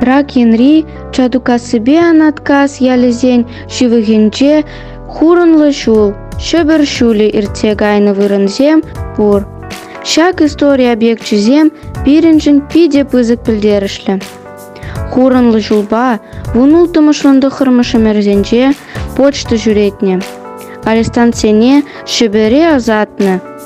Трак енри Чатукассипе Анаткас ялӗсен ҫывӑхӗнче хурӑнлӑ ҫул, Ҫӗпӗр ҫулӗ иртсе кайнӑ вырӑнсем пур. Ҫак истори объекчӗсем пирӗншӗн питӗ пысӑк пӗлтерӗшлӗ. Хурӑнлӑ ҫулпа вун улттӑмӗшӗн тӑххӑрмӗш ӗмӗрсенче почта ҫӳретнӗ. Арестанtsене Ҫӗпӗре ӑсатнӑ,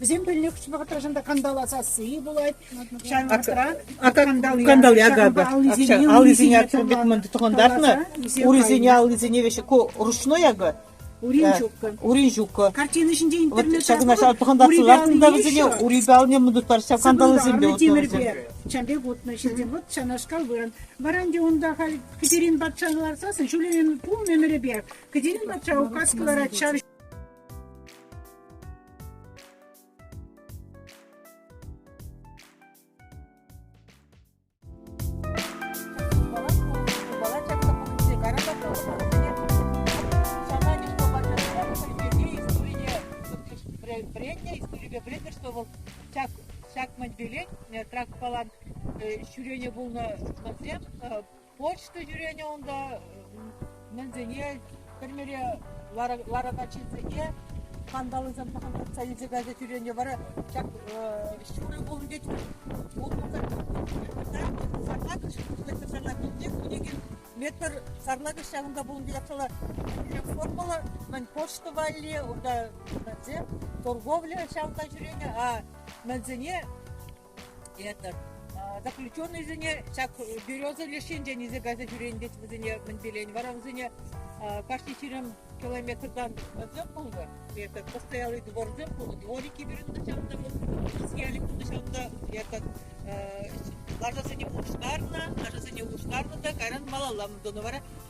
Вӗсем пӗлнӗ хыҫҫӑн вӑхӑтра шӑнта кандала сасси пулать. Ҫавӑн вӑхӑтра кандал ягода аллисене бит мынды тухӑнтартнӑ. Урисене аллисене веҫе ручной ягод. Уринчука. Уринчука. Картина ҫинче интернет ҫакна ҫав тухӑнтартнӑ лартнӑ вӗсене урипалне мындут парча кандалсемпе утнӑ. Ҫан пек утнӑ ҫитсен вот ҫанашкал вырӑн. Варан те унта халь Катерин патшан ларсасын ҫулемен пул мемӗрепе. Катерин патша указ кӑларать ҫав предприятие историпе пӗлетпӗр, что вӑл ҫак ҫак мӗн пелен тракпалан ҫӳрене пулнӑ ҫынсем Почта ҫӳренӗ унта мӗнсене, тӗрмере ларакан ҫынсене скандаллисем пӑхӑнтартса илсе кайса ҫӳренӗ вара ҫак ҫурӑ кулнипе утмӑлсӑр сарлакӑш метр сарлакинче кӗнекен метр сарлакӑш ҫавӑнта пулнипе япшала ҫӳрек формӑллӑ мӗн почта валли унта торговля ҫавӑнта ҫӳренӗ, а мӗнсене этот заключеннӑйсене ҫак береза леш енчен илсе кайса ҫӳренӗ вӗсене мӗн пелен вара вӗсене кашни ҫирӗм километртан озёр пулнӑ этот постоялый двор озёр пулнӑ дворики вырӑнта ҫавӑнта стояли пулнӑ ҫавӑнта этот лашасене улӑштарнӑ лашасене улӑштарнӑ та кайран малалла тӑнӑ вара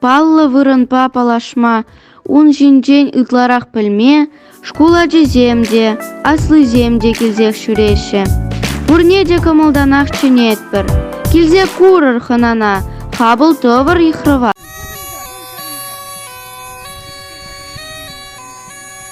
паллӑ вырӑнпа паллашма, ун ҫинчен ытларах пӗлме шкул ачисем те, аслисем те килсех ҫӳреҫҫӗ. Пурне те кӑмӑлтанах чӗнетпӗр. Килсе курӑр хӑнана, хапӑл тӑвӑр йыхрава.